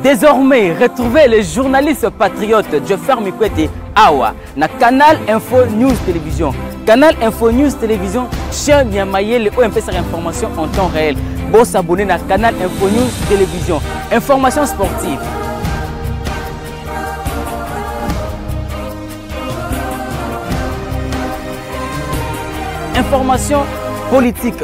Désormais, retrouvez le journaliste patriote Jeffer Mikwete Awa na Canal Info News Télévision. Canal Info News Télévision, chaîne ya mayele oyo mpesaka information en temps réel. Bo s'abonner na Canal Info News Télévision. Information sportive, information politique,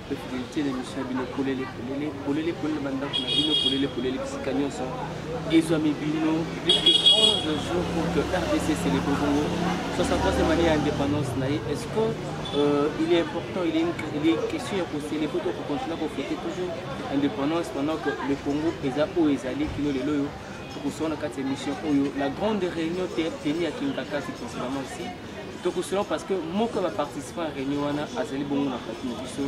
mpe fidelite na emission ya bino polele polele polele polele bandako na bino polele polele bisika nyonso ezwami bino plus que 11 jours pour que rdc célèbre bongo 63e année ya indépendance na ye est ce que euh, il est important il est une, il est une question ya kocélèbre to kocontinue kofete toujours indépendance pendant que le congo eza oyo ezali kino lelo oyo tokosona kati ya émission oyo la grande réunion tenue ya kingakasi principalement ici tokosolo parce que moko ya baparticipant ya réunion wana azali bongo na pati na biso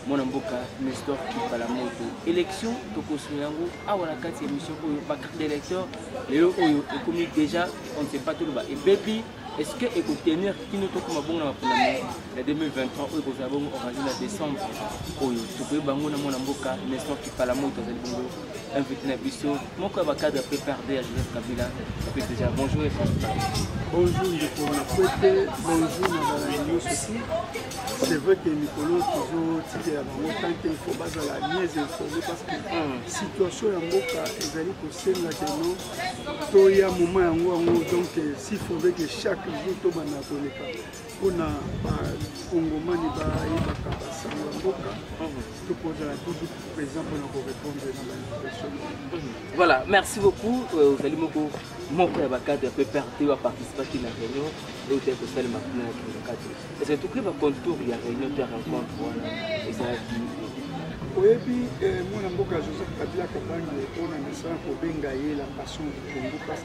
mwana mboka nestor kipala moto élection tokosolo yango awa na kati ya émission oyo bacarte d'électeur lelo oyo ekomi déjà on ne sait pas toloba ebebi est ce que ekotenir kino tokoma bongo na mapona ya 2023 oyo ekozala bongo organise na décembre oyo tokoyeba yango na mwana mboka nestor kipala moto azali bongo invité na biso moko ya bacadre pprd ya joseph kabila ape déjà bonjour et bonjour ndeko na kwete bonjour na balandi nyonso si c'est vrai que mikolo tozotikela bango tanke ifo bazala mieux informé parce que hmm. situation ya mboka ezali kosenga keno toya moma yango yango donc si fove que chaque jour tobanda koleka mpona bakongomani bayebaka basango ya mboka to kozala toujours présent mpona korépondre na bainvitation voilà merci beaucoup euh, ozali moko moko ya bacadre ya pprt oyo aparticipaki na réunion oyo tali kosalema kuna ya kinokati ece tokoki bacontour ya réunion to ya rencontre wana ezalaki oyebi eh, mwana mboka joseph kabila kabange mpona misala kobenga ye la passion du congo parce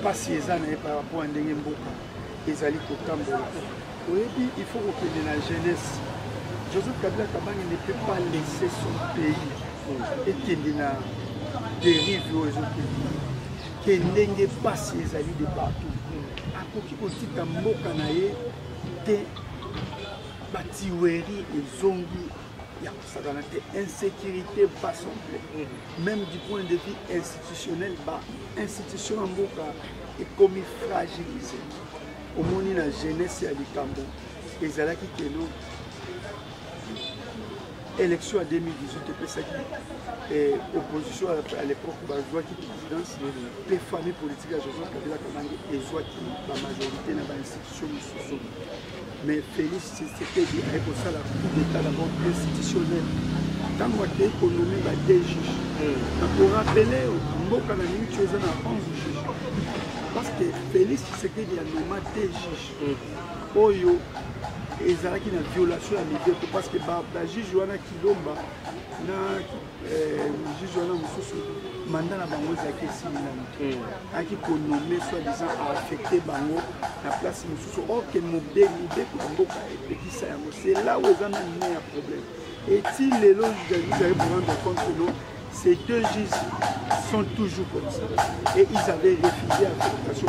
mpasi eza na ye par rapport ya ndenge mboka ezali kotambola oyebi il faut kokende na jeunesse joseph kabila kabange ne peut pas laisser son pays ekende na dérive oyo ezokende ke ndenge mpasi ezali de partout akoki kotika mboka na ye te batiweri ezongi ya sakana te insecurité pas somple mm. même du point de vue institutionnel ba institution ya mboka ekomi fragilise omoni na jeunesse ya likambo ezalaki keno élection ya 2018 epesaki eh, opposition à l'époque bazwaki présidence mpe famille politique ya joseph kabila kabange ezwaki bamajorité na bainstitution mosusu mais Félix Tshisekedi aye kosala coup d'état d'abord institutionnel ntango akei konomi ba deux juge nakorapele yo mboka na mingi ti eza na 11 juge parce que Félix Tshisekedi anoma deux juge oyo ezalaki na violation ya mibeko parce que bajuge wana kilomba na juge wana mosusu manda na bango ezalaki esili nano ayaki konome soit disant aaffecte bango na place mosusu orke mobeli mibeko ya mboka epekisa yango c'est là où eza nani ne ya problème eti lelo juzali prendre compte no ces deux juges sont toujours comme ça et ils avaient refusé affectation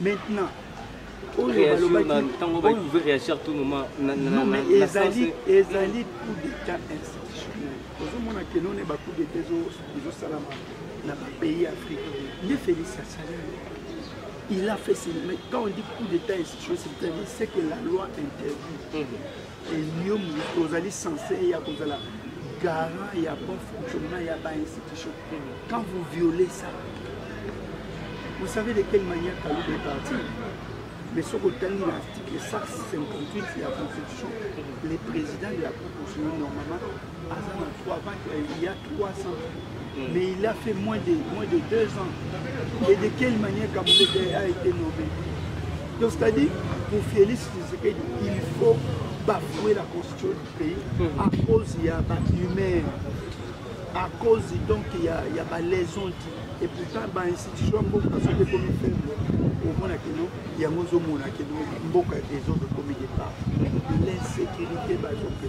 maintenant ntango bayi pouvait réagir tout moment ezali ezali coup d'état institutionnel ozomona ke none ba coup d'état ezosalama na bapays afrique nde félix asali il a fait mais quand on dit coup d'état institutionnel c'est-à-dire ce que la loi interdit mhm. yo moto ozali sense ya kozala garant ya bon fonctionnement ya ba institution quand vous violez ça vous savez de quelle manière kaluba est parti mais soki otangi na article 158 ya constitution le président de la cour constitutionnelle normalement aza na 3 vente il y a 300 mm. mais il a fait moins de, moins de 2 ans et de quelle manière Kamulete a été nommé donc c'est à dire pour Félix Tshisekedi il faut bafouer la constitution du pays mm. à cause ya bahumain à cause donc ya, ya balaison dit et pourtant bainstitution ya mboka soki ekomi faible omona kino yango ozomona kino mboka ezokomi départ l'insécurité bazope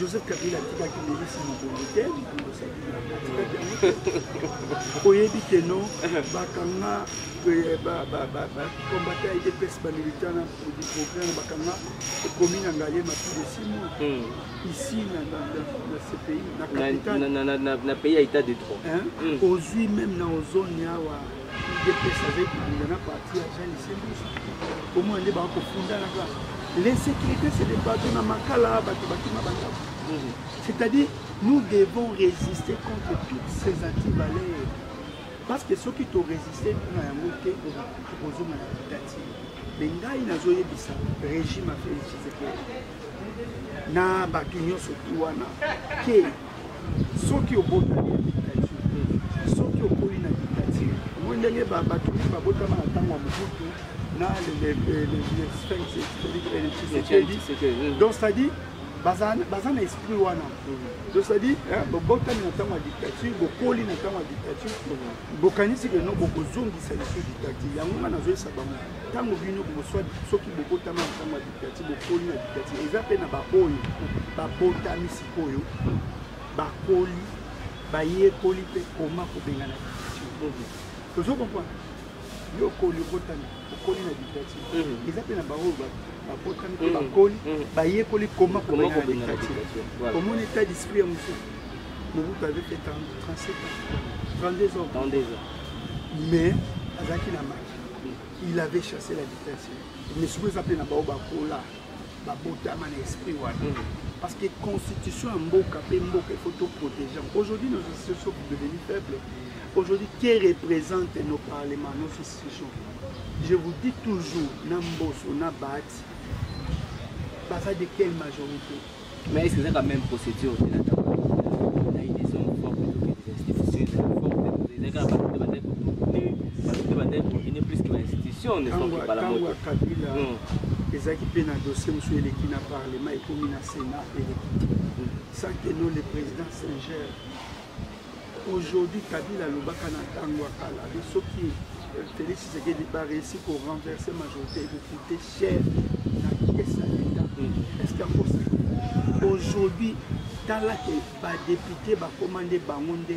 joseph kabila atikaki melisi mokongo te oyebi ke no bakanga bakombata ya idps bamilitant na programme bakanga ekomi na ngaye mapi de six mois hmm. ici na ce pays na capital na pays ya état de droit hmm. ozwi meme na ozone awa udps azali kobunda na parti ya jean liselus komona nde bakofundanaka l'insécurité c'est des bato na makala bato bakima bandako c'est-à-dire nous devons résister contre toutes ces antivaleurs parce que soki torésiste mpona yango te tokozonga na dictature me ngai nazoyebisa régime ya félix tshisekedi na bato nyonso tu wana ke soki obotami na dictature soki okoli na dictature omoi ndenge bato mingi babotama na ntango ya mobutu na donc c'est-à-dire baza na esprit wana mhm. donc c'est-à-dire bobotami na ntango ya dictature bokoli na ntango ya dictature mhm. bokanisi keno bokozongisa lisu dictature yango nga nazoyesa bango ntango bino boswa soki bobotama na ntango ya dictature bokoli na dictature eza mpe na baoyo babotamisi oyo bakoli bayekoli mpe koma kobengana tozo comprendre yo okoli obotami okoli na dictature mm. eza mpe na baoyo babotami mpe mm. bakoli mm. bayekoli koma kobengana dictature omoni etat d'esprit ya mosusu mobutu avait fait 37 ans 32 ans 32 ans mais azalaki na maki il avait chassé la dictature mais soki eza mpe na baoyo bakola babotama na esprit wana mm. parce que constitution ya mboka mpe mboka il faut toprotege aujourd'hui nos institutions devenir faible aujourd'hui qui représente nos parlements nos institutions je vous dis toujours na mboso na bahati baza de quelle majorité mais est-ce que ezaka même procédure te nata na ye des hommes forts plutôt que des institutions ezali forte ezalaka bato te bandai koprotege bato te bandai koprotege plus que ba institution ne sont que bala moto ezalaki mpe na dossier mosusu eleki na parlement ekomi na sénat eleki te sans que no le président singer aujourd'hui kabila alobaka na ntango ya kala de soki euh, félix tshisekedi bareussi korenverse majorité ekokute cher na pièce ya leta est ce qu'ango aujourd'hui tala ke badepute bakoma nde bango nde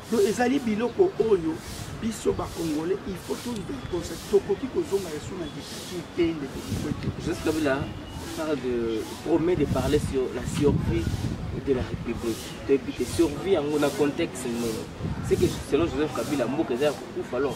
Donc ezali biloko oyo biso ba congolais il faut tous de constat tokoki kozonga yesu na dictature te ndeko kikwete joseph kabila parle de promet de parler sur la survie de la république toyebi te survie yango na contexte nini c'est que selon joseph kabila mboka eza ya kokufa alors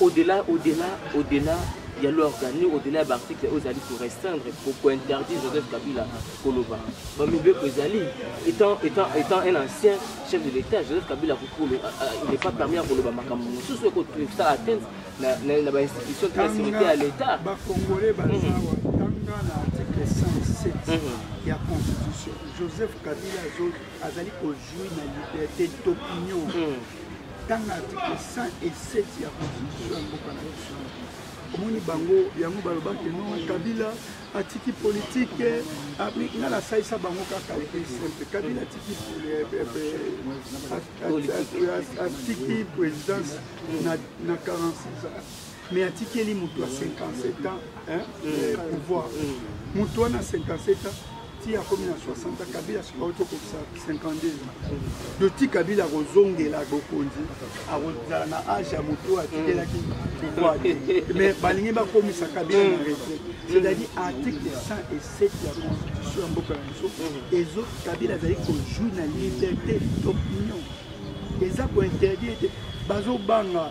au-delà au-delà au-delà ya l'organe au-delà ya baarticle oyo ezali korestreindre kointerdire joseph kabila koloba bamibeko ezali étant, étant, étant un ancien chef de l'état joseph kabila kokolo il n'est pas permis ya koloba makambo mosusu ekosala atteinte na bainstitution to ya sécurité ya l'état bakongole bazawa tanga na article 107 ya constitution joseph kabila azali kojui na liberté d'opinion tanga article 107 ya constitution ya mboka na biso omoni bango yango balobaki no kabila atiki politike nga nasalisa bango kaka simple kabila atiki atiki présidence na 46 ans mais atikeli moto ya 57 ans hein, mm. pouvoir moto wana 57 ans ti akomi na 60 kabila soki auti okokisa 52 doti kabila akozongela bokonzi akozala na age ya moto oyo atikelaki pouvoir te mais balingi bakomisa kabila na retraite c'est-à-dire article 107 ya constitution ya mboka na biso ezo kabila azali kojouir na liberté d'opinion eza kointerdire te bazobanga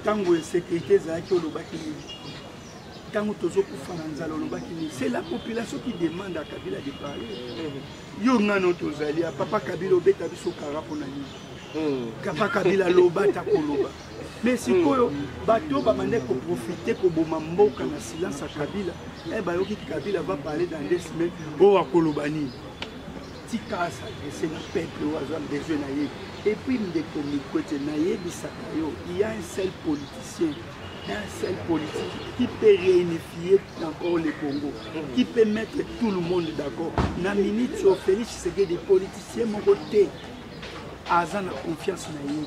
ntango insécurité ezalaki olobaki nini ntango tozokufa na nzala olobaki nini c'est la population qui demande à kabila de parler yo ngano tozali ya papa kabila obeta biso kara mpo na nini hmm. papa kabila loba ta koloba mais sikoyo bato babandaki koprofite koboma mboka na silence ya kabila e bayoki kabila va parler dans des semaines oyo oh, akoloba nini tika asadrese na peuple oyo azwa besoin na ye epuis ndeko mikwete nayebisaka yo ya un seul politicien un seul politique qui peut réunifier encore le Congo, qui peut mettre tout le monde d'accord. Na minute sur Félix Tshisekedi, politicien mon côté, aza na confiance na ye.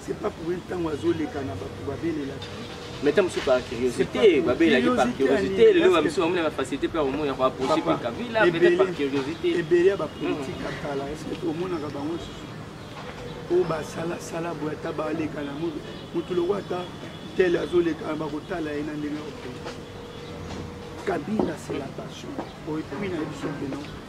c'est pas pour une ntango azoleka na bato babelelaka mais ntango mosusu par curiosité babelelaki par curiosité lelo bamisu bamona na facilité mpe omona koapproche mpe kabila peut-être par curiosité ebele ya bapolitique ya kala eske omonaka bango susu oyo basalasala boye ata baleka na moto motu loko ata tele azoleka bakotala ye na ndenge okende kabila c'est la passion oyo epuina ye biso mpe non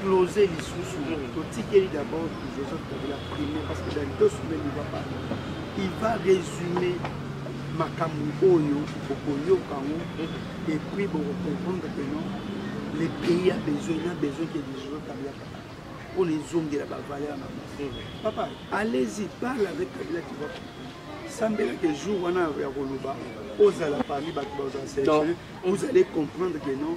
close lisusu totikeli d'abord joseph kabila premier parce que dans deux semaines il va parler il va résumer makambo oyo bokoyoka yango et puis bokocomprendre que non le pays a besoin na besoin que de joseph kabila papa mpo na ezongela bavaleur na bango papa allez-y parle avec kabila tu vas sambela que jour wana ya koloba ozala parmi bato bazala sélectionne vous allez comprendre que non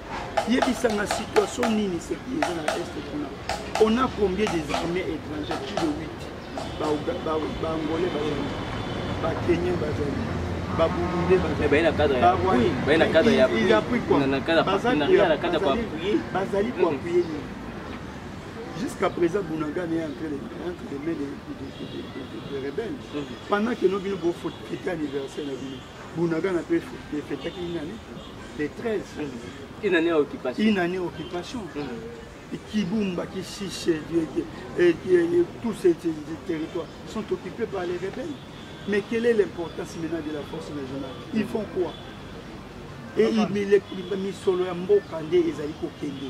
yebisanga situation nini seki eza na est kuna on a combien des armées étrangères plus de 8 baangolais bazali bakenien bazali baburundais bazalibazali koapuye nini jusqu'à présent bunagane est entre les mains des rebelles pendant que no bino bofotete anniversaire na bino Bunagana pe efetaki inani le 13 une année occupation une année occupation mm. Kibumba, Kishishe, et, et, et, tous ces territoires sont occupés par les rebelles. Mais quelle est l'importance maintenant de la force nationale Ils font quoi Et ils misolo ya mboka nde ezali kokende.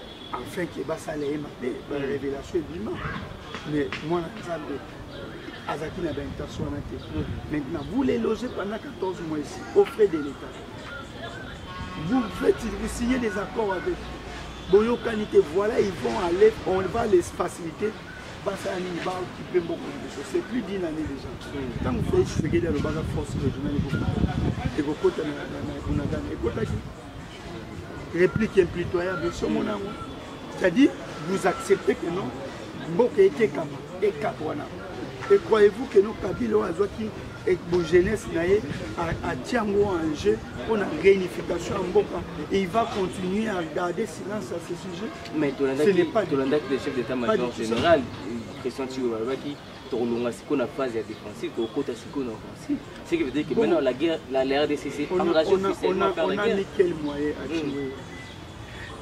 enfin ke basala ye mabe barevelation ebima mais mwana nzambe azalaki na baintention wana te maintenant vous les logez pendant 14 mois ici au frais de l'état vous faites vous signez des accords avec boyokani te voilà ils vont aller on va les faciliter basala nini baokipe mboko liboso c'est plus d'une année déjà ntango fei tshisekedi alobaka force régionale ekokota na bunagana ekotaki réplique impitoyable osomona yango c'est-à-dire vous acceptez que non mboka etekama ekap wana et croyez-vous que non kabila oyo azwaki jeunesse na ye atia yango en jeu mpo na réunification ya mboka et il va continuer à garder silence à ce sujet mais tolandaki le chef d'état major général christian tiolobaki tokolonga sikoyo na phase ya défensive tokokota sikoyo na offensive ce qui veut dire que bon. maintenant la guerre la, la rdc s'est engagée officiellement par la guerre on a mis quel moyen à Chiwewe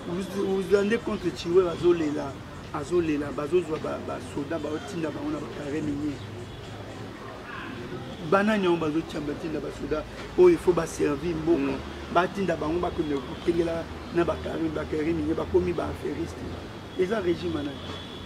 hmm. vous allez contre Chiwewe azolela azolela bazozwa basoda baotinda bango na bapare minier banani yango bazotia batinda basoda oyo il faut baservi mboka hmm. batinda bango bakende kokengela na bakare bakare minier bakomi baaferiste eza régime anani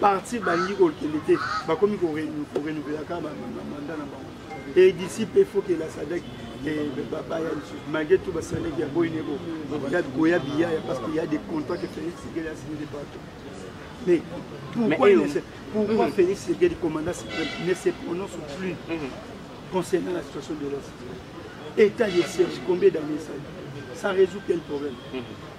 parti balingi kokende te bakomi korenouvelaka kaka bamanda na bango e d'ici mpe faut que la sadek baya lisusu malgré tout basadek ya boyi nebo koya biya ya parce que ya des contrats que félix sekeli asini de partout mais pourquoi, mais, euh, pourquoi mm -hmm. félix sekeli commandant suprême ne se prononce plus mm -hmm. concernant la situation de l'est état de siège combien d'années ça ça résout quel problème mm -hmm.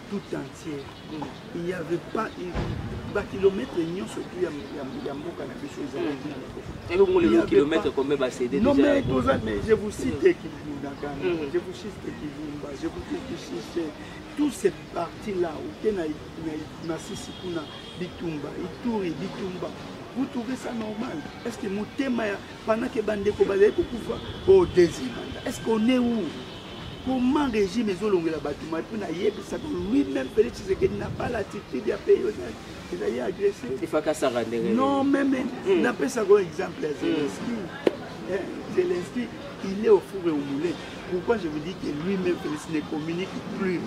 tout entier il y avait pas bakilomètre nyonso tu ya mboka na biso ezalinomme toza mais je vous cite kibundakana mm. je vous cite kibumba je vous cite tout ces parti là oke na masisi kuna bitumba ituri bitumba vous trouvez ça normal est ce que motema ya pendant ke bandeko bazali kokufa o oh, deuxième est ce qu'on est où Comment régime ezolongela bato mai mpo nayebisaka lui-même Félix Tshisekedi na pas l'attitude ya pays ezali agressé. Efakasaka ndenge. Non meme hmm. napesaka oyo exemple ya Zelensky. Hmm. Eh, Zelensky il est au four et au moulin. Pourquoi je vous dis que lui-même Félix ne communique plus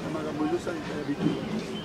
na makambo ezosalisa ya bitu.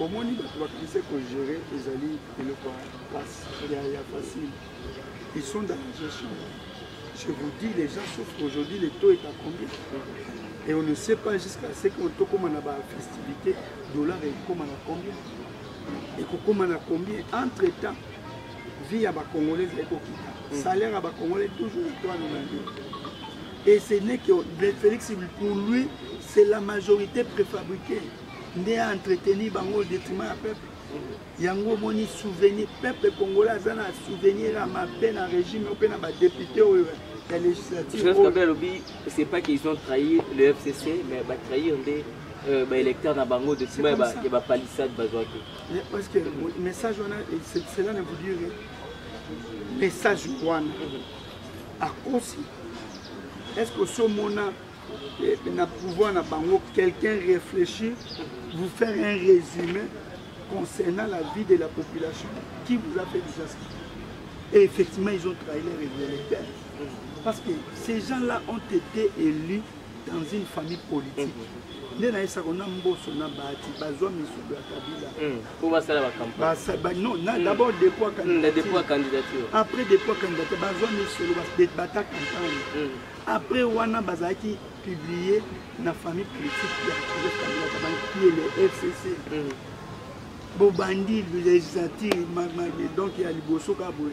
omoni bato bakrise kogere ezali eloko ya facile ils sont dans la gestion je vous dis les gens sauf qu'aujourd'hui le taux est à combien et on ne sait pas jusqu'à ce que tokóma na bafestivité dollar ekóma na combien ekokóma na combien entre temps vie ya bacongolais ezali kokita mm. salaire ya bacongolais toujours etoile na yo et ce n'est que félix pour lui c'est la majorité préfabriquée nde a entretenir bango au detriment ya peuple yango omoni souvenir peuple congolais aza na souvenir ya mabe na régime oyo mpe na badepute oyo ya législature alobi c'est pas qu'ils ont trahi le fcc mais batrahir nde euh, baélecteur na bango de nsima ya bapalissade bazwaki parce que message wana cela ne vous dire message wana akosi est ce que osomona na pouvoir na bango quelqu'un réfléchir vous faire un résumé concernant la vie de la population qui vous a fait disaster et effectivement ils ont trahi leur révélateur parce que ces gens là ont été élus dans une famille politique nde nayesaka na mboso na bahati bazwa misuku ya kabila hmm. po basala bacampagne non na hmm. d'abord dépôt hmm, candidature après dépôt candidature bazwa misolo bata campagne Après wana bazalaki publier na famille politique ya Joseph Kabila Kabange qui est le FCC. Mm. Bobandi législature donc ya liboso ka boye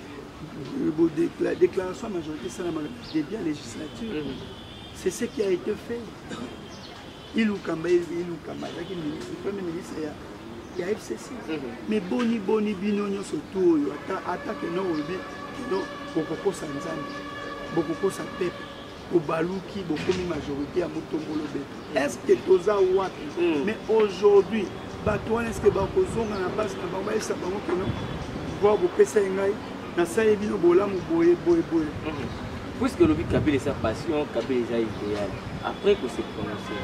la déclaration majorité esalamaka début ya législature. Mm. C'est ce qui a été fait. ilukamba ilukamba azalaki ministre premier ministre ya ya fcc me mhm. boni boni bino nyonso tu oyo ata keno olobi keno bokokosa nzambe bokokosa pepe bobaluki bokomi majorité ya motombolo be est ce que toza wapi mhm. mais aujourd'hui bato wana eske bakozonga na base na bango bayebisa bango keno pouvoir bopesa ye ngai nasali bino bolamu boye boye boye mhm. puisque olobi kabila eza passion kabila eza idéal après ko se prononcer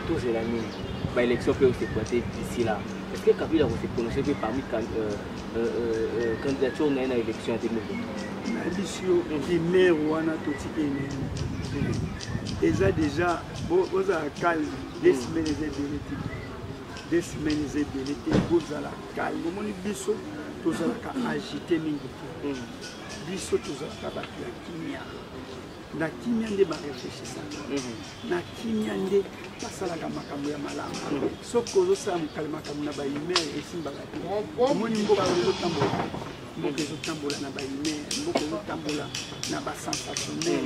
tozela nini baélection mpe osekwate d'ici là est ce que kabila ko se prononcer mpe parmi euh, euh, euh, candidature na ye na élection ya 2023 nayebisi yo rumeur wana totiki enene eza déjà bozala calme deux semaines eza ebele te deux semaines eza ebele te bozala calme omoni biso tozalaka agité mingi te biso tozalaka bato ya kimia na kimia nde bareflechisaka mhm. na kimia nde basalaka makambo ya malamu mhm. soki ozosala mokali makambo na bahumaire esimbaka te omoni mboka ezotambola mboka ezotambola na bahumaire mboka ezotambola na basensationnel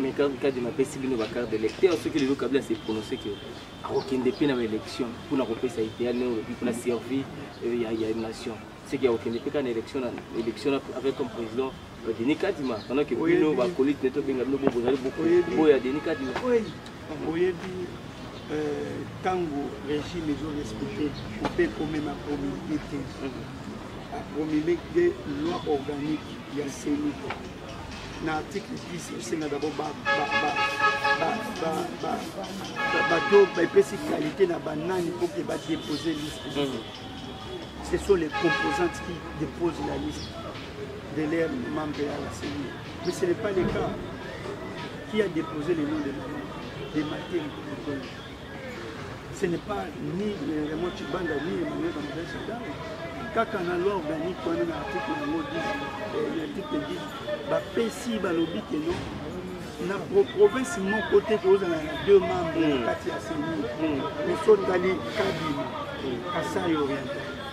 mais quand kadi napesi bino ba carte d'électeur soki lelo kabila se prononce que akokende mpe na baélection mpona kopesa idéal ne olobi mpona servir euh, ya nation soki akokende mpe kaka na élection avec comme président euh, denis kadima pendant que bino bakolite ne tobenga bino bozali boya denis kadima oyebi ntango euh, régime ezorespecte mpe komema promulgue te apromulgue loi organique ya seni na article 10 esenga d'abord bato bapesi qualité na banani mpo ke badepose liste mm. ce sont les composantes qui déposent la liste de leur membre à la CENI. Mais ce n'est pas le cas. Qui a déposé le nom de, de Mathieu ce n'est pas ni Raymond Chibanda ni Emmanuel Bamidel Chibanda kaka na loi organique wana na article yango 10 eh, article 10 bapesi balobi ke non na province moko te tozala na deux membre na hmm. kati ya seni moso hmm. otali kabima hmm. kasai oriental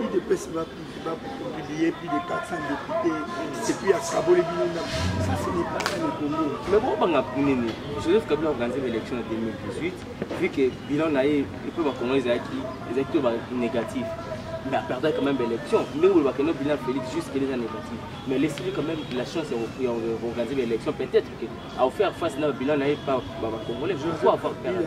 udps ba publie plus de 400 député epuis akaboli bino na ça ce n'est pas ça le congo mais bobanga nini joseph kabila organise baélection ya 2018 vu que bilan na ye epe bakongo ezalaki ezalaki to banégatif mais aperdaki quand même baélection ndenge olobaka no bilan félix juste kele eza négatif mais laisseli quand même la chance ya organise baélection peut-être que aofaire face na bilan na ye pa bacongolais pourquoi avoir perdu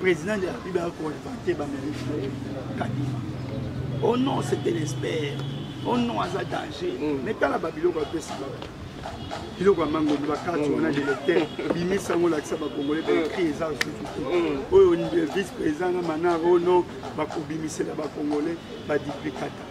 Président de la République a contacté ba mairie Kadima. Oh non, c'était l'espère. Oh non, aza danger. Mm. Mais tala ba biloko a pesa ba. Biloko ya mango ba carte mm. on a des lecteurs. Bimisa ngo lakisa ba congolais ba écrit eza aussi. Mm. Oyo vice président na manaro oh non, ba kobimisela ba congolais ba duplicata.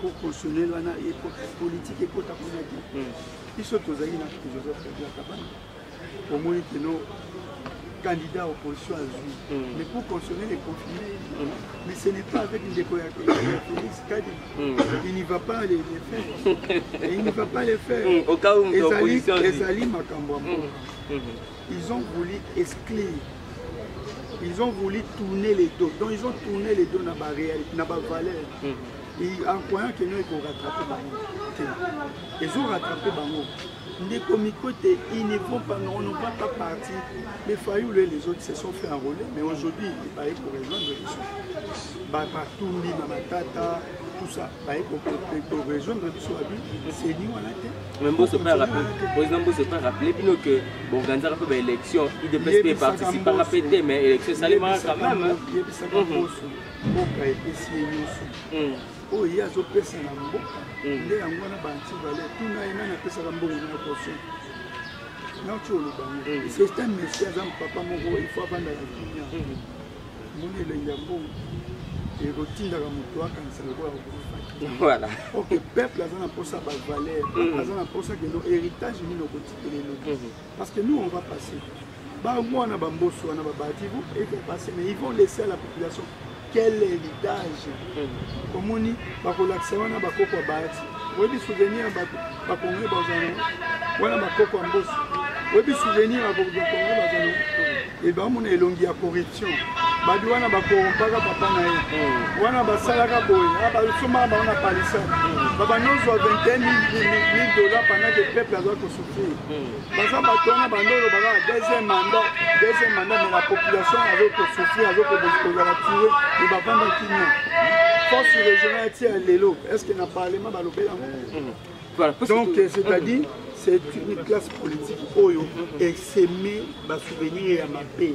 pour consommer wana politique ekota kuna te hmm. biso tozali na joseph kabila kabana omoni keno candidat opposition azwi hmm. mais pour consommer les confirmer hmm. mais ce n'est pas avec ndeko ya félix kadi il n'y va pas les faire il n'y va pas les faire ezali makambo ya mboka ils ont voulu exclure ils ont voulu tourner les dos donc ils ont tourné les dos na bavaleur en croyant que non eko rattraper bango te ezo rattraper bango ndeko miko te ils ne vont pas non non va pas parti mais fayulu et les autres se sont fait enrôler mais aujourd'hui baye ko rejoindre biso batumbi na matata tout ça baye ko rejoindre biso abi seni wana te mais mboso mpe président mboso mpe rappele bino que boorganisaka mpe baélection idps mpe eparticipaka mpe te mais élection esalemaka quand même yebisaka mboso mboka epesi ye nyonso hmm. oyo ye azopesa na mboka hmm. nde yango wana banti vale tuna ye nani apesaka mbongo na koso nati olobango hmm. c'est un monsieur aza mpapa moko ifo abandaka kimia moni elengi ya mbongo ekotindaka moto akanisa lokola voilà ok peuple aza na mposa bavaleur aza na mposa keno héritage nini okotikela eloki parce que nous on va passer Ba mwana ba mboso wana ba bati vous et vous passez mais ils vont laisser à la population quel héritage hmm. omoni bakolakisa wana bakoko abati oyebi souvenir ya bato bakonge bazana wana bakoko ya mboso oyebi souvenir ya bakonge bazana e bamona elongi ya corruption babi wana bakorompaka papa na ye hmm. wana basalaka boye ah, basombaka bango na palisa hmm. babandi ozwa 21 000 dollars pendant ke peuple azwa kosouffrir baza bato wana bando olobaka na deuxième mandat deuxième mandat mais la population azo kosouffrir azo kozala tire mais bavanda kimia force régionale ti ya lelo est ce que na parlement balobela yango mm-hmm. donc c'est à dire c'est une classe politique oyo eseme basouvenir ya mabe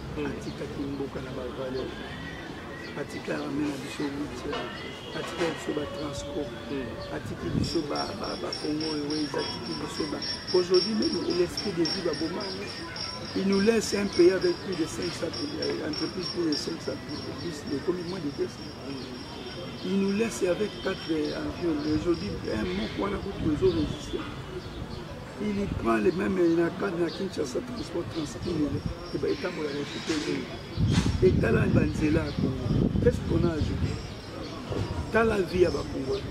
atikaki mboka na bavaleur atikaka me na biso witia atika biso batranspo atiki biso bakongo eweza atiki biso ba aujourd'hui meme l'esprit de vie baboma yango il nous laisse un pays avec plus de 500 euh, entreprises plus de 500 entreprises ekomi moins de 200 il nous laisse avec 4 euh, avions aujourd'hui un moko wana kutu ezo résiste il prend le même na cadre na kinshasa transport transpile etambolaka esute oyo etala banzela ya congo qu'est-ce qu'on a ajouté tala vie ya bacongolais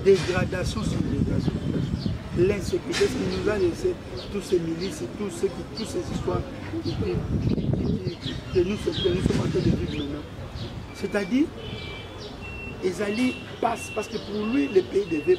dégradation sur dégradation l'insécurité ce qui nous a laissé tous ces milices tous ces, tous ces histoires qui, qui, qui, qui, que nous, que nous sommes en train de vivre maintenant c'est-à-dire ezali passe parce que pour lui le pays devait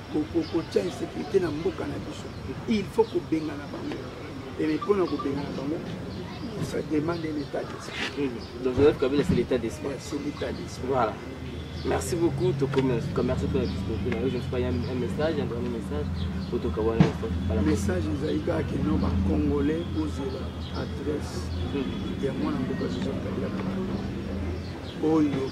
kotia insécurité na mboka na biso il faut kobengana bango eme mpo na kobengana bango ça demande un état d'esprit hmm. donc joseph kabila c'est l'état d'esprit c'est l'état d'esprit voilà merci beaucoup tokomi en tout cas merci mpo na disponibilité na yo je ne sais pas ya un message un dernier message po tokawana message ezali kaka kino bacongolais ozela adresse hmm. ya mwana mboka joseph kabila oyo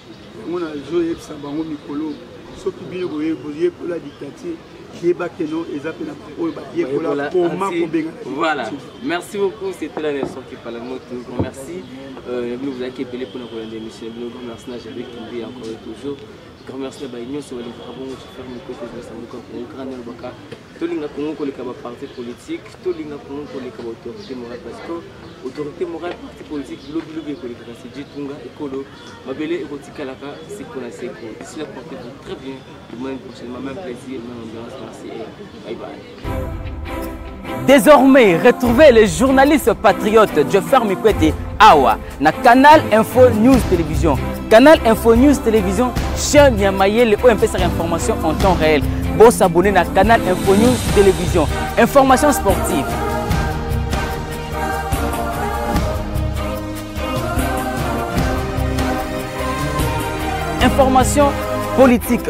yango nazoyebisa bango mikolo soki bino boyekola dictature yeba que non eza mpe na oyo bayekola koma kobenga voilà merci beaucoup c'était la nation qui parle moi tout grand merci euh, bino bozalaki ebele mpona kolanda émission bino grand merci na jabe kimbi encore et toujours grand merci na baye nyonso balingaka bongo tofere mikote ezalisa moko ya programe elobaka tolinga congo koleka baparti politique tolinga congo koleka baautorité morale parce que autorité morale parti politique bilobilobi ekolekaka sidi tunga ekolo mabele ekotikalaka seko na seko ici la porte vous très bien demain prochainement même plaisir même ambiance merci et bye bye Désormais, retrouvez le journaliste patriote Joffer Mikwete Awa na canal info news télévision canal info news télévision chaîne ya mayele oyo epesaka information en temps réel bosabone na canal info news télévision information sportive information politique